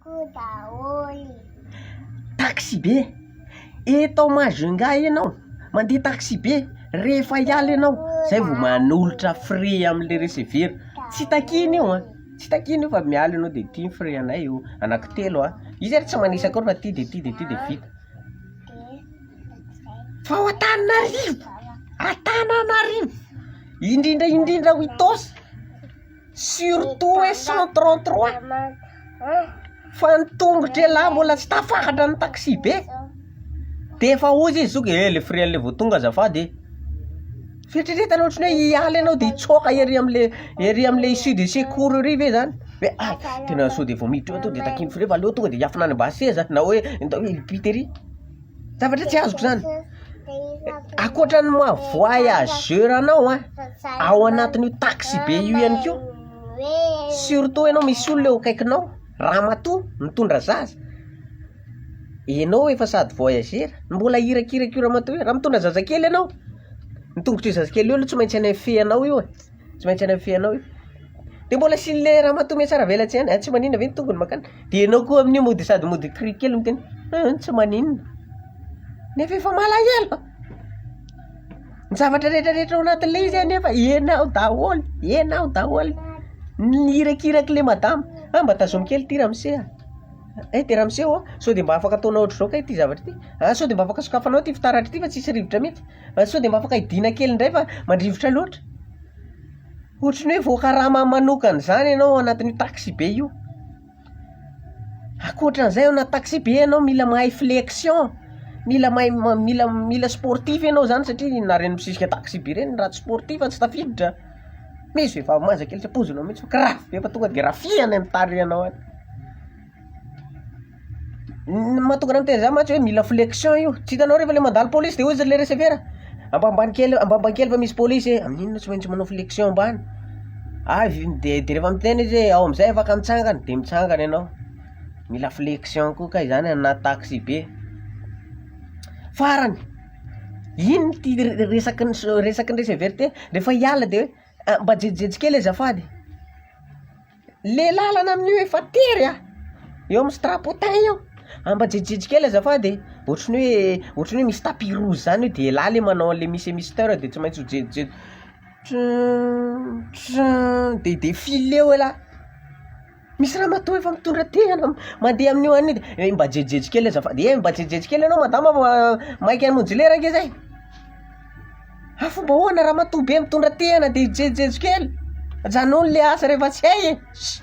Ko daholo. Taxibe, eto ao Majunga ianao, mandeha taxibe, rehefa hiala ianao, zay vao manolotra frais amin'ilay recevera, tsy takiana io an, tsy takiana io fa miala ianao dia ity ny frais anay io, anaky telo an, izy ary tsy manisa akory fa ity dia ity dia ity dia vita. Fa ao Antananarivo, Antananarivo, indrindra indrindra ao Itaosy. Surtout hoe cent trente trois fa ny tongotry ialahy mbola tsy tafakatra ny taxi-be de efa hoy izy zok ee le frais an'le vao tonga azafady ee, fieritreretana ohatry ny hoe hiala ianao de hitsoaka ery am'le ery am'le issue de secours ery ve zany hoe hay tena sao de vao miditra ao to de takian'ny frais fa aleo tonga de hiafina any am-basy seza na hoe ndao hiampita ery. Zavatra tsy azoko zany, akoatra ny maha voyageur anao an, ao anatin'io taxi be io ihany koa, surtout ianao misy olona eo akaikinao, ramatoa mitondra zaza, ianao efa sady voyageur, mbola irakiraka io ramatoa io, raha mitondra zazakely ianao, ny tongotr'io zazakely io aloha tsy maintsy hanefehanao io e. Tsy maintsy any amin'ny feanao io. De mbola asian'le ramatoa mihatsaravelatsy ihany, ah, tsy maninona ve ny tongony makany? De ianao koa amin'io mody sady mody cri kely miteny, ah, tsy maninona. Nefa efa malahelo. Ny zavatra retraretra ao anatin'le izy anefa ianao daholo, ianao daholo. Ny irakirak'le madama, ah, mba tazomy kely ty ramose ah, eh, de ramose ô, sao de mba afaka ataonao ohatr'izao kay ty zavatra ty, ah, sao de mba afaka sokafanao ty fitaratra ty fa tsisy rivotra mihitsy. Sao dia mba afaka hidiana kely indray fa mandrivotra loatra. Ohatry ny hoe voakarama manokana izany ianao ao anatin'io taxibe io. Ankoatra an'izay ao anaty taxibe ianao mila mahay flexion, mila mahay ma- mila mila sportif ianao izany satria na ireny mpisisika taxibe ireny raha tsy sportif tsy tafiditra, misy vehivavy manja kely tsy ampoizinao mihitsy fa grave be fa tonga dia rafia any amin'ny tarihanao any. Ny mahatonga anà miteny izany mantsy hoe mila flexion io, tsy hitanao refa le mandalo polisy de hozy le recevera ambanimbany kely ambanimbany kely fa misy polisy e, amin'inona tsy maintsy manao flexion ambany, avy io de de refa miteny izy hoe ao am'zay afaka mitsangana de mitsangana ianao, mila flexion koa kay zany aminà taxibe, farany, iny ty re- resaky ny so- resaky ny recevera ty refa hiala de hoe mba jejojejo kely azafady. le lalana amin' io efa tery a, eo amin'ny strapotin eo, ambajijijy kely azafady e, ohatry ny hoe ohatry ny hoe misy tapis rouge zany io de elah le manao an'le misy emisteur de tsy maintsy ho jejojejo tron tron de de file eo elah, misy ramatoa efa mitondra tehina mandeha amin'io any io, eh mba jejojejo kely azafady, eh mba jejojejo kely enao madama fa maika hamonjy lera ange zay. Fa fomba ahoana ramatoa be mitondra tehana dia hijejojejo kely? Ajanony le asa rehefa tsy hay e! Ssy.